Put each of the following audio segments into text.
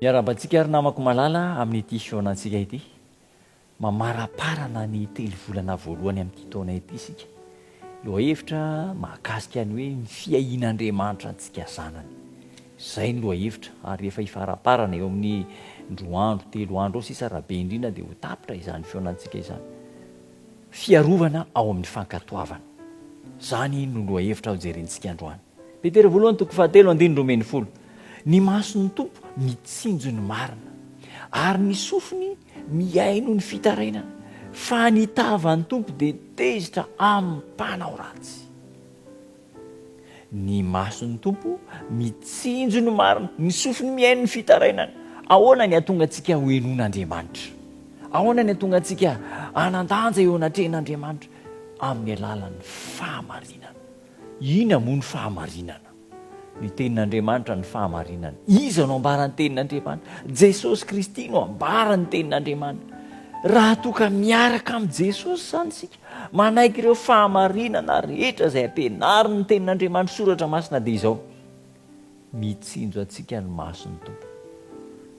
Miarahaba antsika ry namako malala amin'ity fihaonantsika ity. Mamaraparana ny telo volana voalohany amin'ity taona ity isika. Lohahevitra mahakasika ny hoe ny fiahian'Andriamanitra antsika zanany. Izay ny lohahevitra ary efa hifaraparana eo amin'ny roa andro, telo andro eo sisa raha be indrindra dia ho tapitra izany fihaonantsika izany. Fiarovana ao amin'ny fankatoavana. Izany no lohahevitra hojerentsika androany. Petera voalohany toko fahatelo andininy roa ambin'ny folo, Ny mason'ny Tompo mitsinjo ny marina, ary ny sofiny mihaino ny fitarainana, fa ny tavan'ny Tompo dia tezitra amin'ny mpanao ratsy. Ny mason'ny Tompo mitsinjo ny marina, ny sofiny mihaino ny fitarainana. Ahoana ny hahatonga antsika ho henoin'Andriamanitra? Ahoana ny hahatonga antsika hanan-danja eo anatrehan'Andriamanitra? Amin'ny alalan'ny fahamarinana. Ina moa ny fahamarinana? Ny tenin'Andriamanitra no fahamarinana. Iza no ambara ny tenin'Andriamanitra? Jesosy Kristy no ambara ny tenin'Andriamanitra. Raha toa ka miaraka amin'i Jesosy izany isika, manaiky ireo fahamarinana rehetra izay ampianarin'ny tenin'Andriamanitra, soratra masina, dia izao, mitsinjo antsika ny mason'ny Tompo.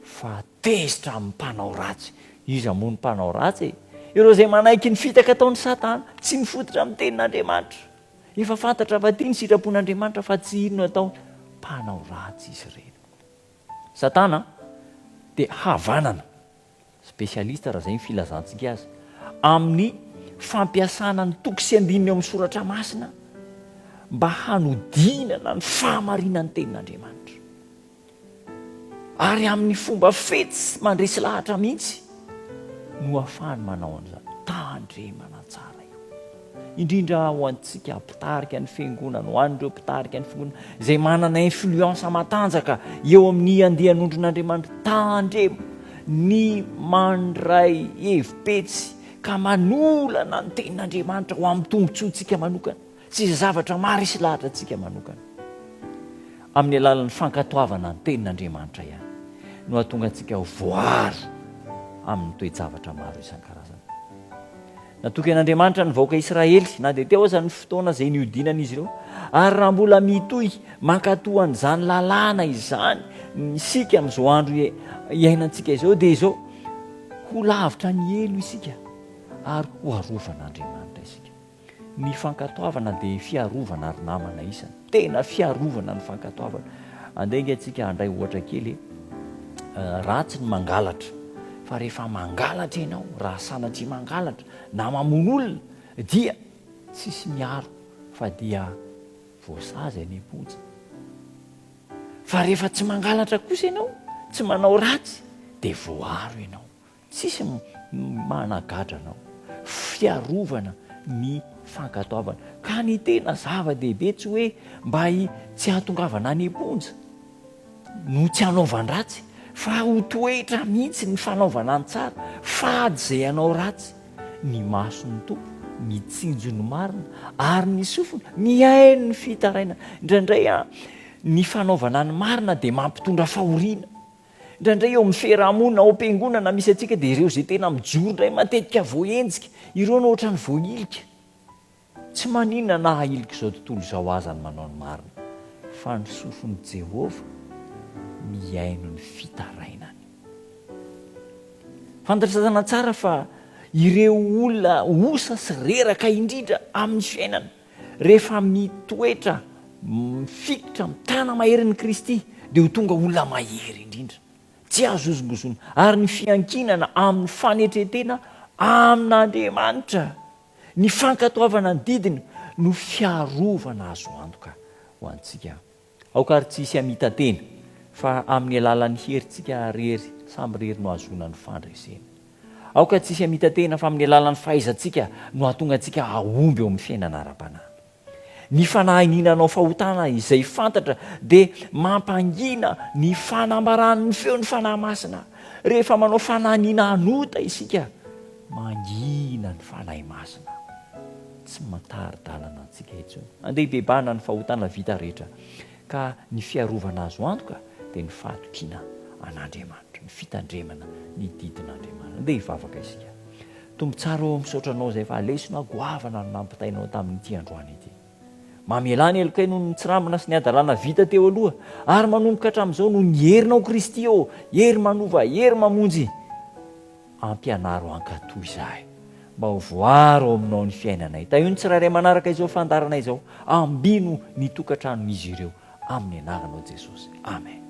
Fa tezitra amin'ny mpanao ratsy. Iza moa ny mpanao ratsy e? Ireo izay manaiky ny fitaka ataon'i Satana, tsy mifototra amin'ny tenin'Andriamanitra. Efa fantatra fa tia ny sitrapon'Andriamanitra fa tsy hino atao mpanao ratsy izy ireny. Satana dia havanana, spécialiste raha izay ny filazantsika azy, amin'ny fampiasana ny toko sy andininy ao amin'ny soratra masina mba hanodinana ny fahamarinan'ny tenin'Andriamanitra. Ary amin'ny fomba fetsy mandresy lahatra mihitsy no ahafahany manao an'izany. Tandremana tsara io. Indrindra ho antsika mpitarika ny Fiangonana, ho an'ireo mpitarika ny Fiangonana, izay manana influence matanjaka eo amin'ny andian'ondrin'Andriamanitra. Tandremo ny mandray hevi-petsy ka manolana ny Tenin'Andriamanitra ho amin'ny tombontsoantsika manokana. Tsy zavatra maharesy lahatra antsika manokana amin'ny alalan'ny fankatoavana ny Tenin'Andriamanitra ihany no hahatonga antsika ho voaaro amin'ny toe-javatra maro isan-karazany. Natokan'Andriamanitra ny vahoaka Israely, na dia teo aza ny fotoana izay nihodinan'izy ireo, ary raha mbola mitohy mankatò an'izany lalàna izany isika amin'izao andro iainantsika izao, dia izao, ho lavitra ny helo isika ary ho arovan'Andriamanitra isika. Ny fankatoavana dia fiarovana ry namana isany tena fiarovana ny fankatoavana andeha nge tsika handray ohatra kely ratsy ny mangalatra fa rehefa mangalatra ianao raha sanatria mangalatra na mamono olona dia tsisy miaro fa dia voasazy any am-ponja fa rehefa tsy mangalatra kosa ianao tsy manao ratsy dia voaro ianao Tsisy managadra anao. Fiarovana ny fankatoavana. Ka ny tena zava-dehibe tsy hoe mba tsy hahatongavana any am-ponja no tsy hanaovan-dratsy fa ho toetra mihitsy ny fanaovana ny tsara, fady izay hanao ratsy. Ny mason'ny Tompo mitsinjo ny marina ary ny sofiny mihaino ny fitarainana. Indraindray ny fanaovana ny marina dia mampitondra fahoriana. Indraindray eo amin'ny fiaraha-monina ao am-piangonana misy antsika dia ireo izay tena mijoro indray matetika voahenjika, ireo no ohatran'ny voahilika. Tsy maninona na hahilika izao tontolo izao aza ny manao ny marina, fa ny sofin'i Jehovah mihaino ny fitarainany. Fantatr'Satana tsara fa ireo olona osa sy reraka indrindra amin'ny fiainana Rehefa mitoetra mifikitra amin'ny tanana maherin'i Kristy, dia ho tonga olona mahery indrindra, tsy azo hozongozona, ary ny fiankinana amin'ny fanetren-tena amin'Andriamanitra, ny fankatoavana ny didiny, no fiarovana azo antoka ho antsika Aoka ary tsy hisy hamita-tena, fa amin'ny alalan'ny herintsika irery samy irery no hahazoana ny fandresena. Aoka tsy hisy hamita-tena, fa amin'ny alalan'ny fahaizantsika no hahatonga antsika hahomby eo amin'ny fiainana ara-panahy. Ny fanahy ny nanao fahotana izay fantatra dia mampangina ny fanambaran'ny feon'ny Fanahy Masina. Rehefa manao fanahy ny nanota isika, Mangina ny Fanahy Masina. Tsy matari-dalana antsika intsony. Andeha hibebahana ny fahotana vita rehetra, ka ny fiarovana azo antoka dia ny fahatokiana an'Andriamanitra, ny fitandremana ny didin'Andriamanitra. Andeha hivavaka isika. Tompo tsara ô, misaotra Anao izay fa lesona goavana no nampitainao tamin'ity androany ity. Mamelà ny helokay noho ny tsirambina sy ny hadalana vita teo aloha, ary manomboka hatramin'izao noho ny herinao Kristy ô, hery manova, hery mamonjy. Ampianaro hankatò izahay, mba ho voaro ao aminao ny fiainanay. Tahio ny tsirairay manaraka izao fandaharana izao. Ambino ny tokantranon'izy ireo amin'ny anaranao Jesosy. Amen.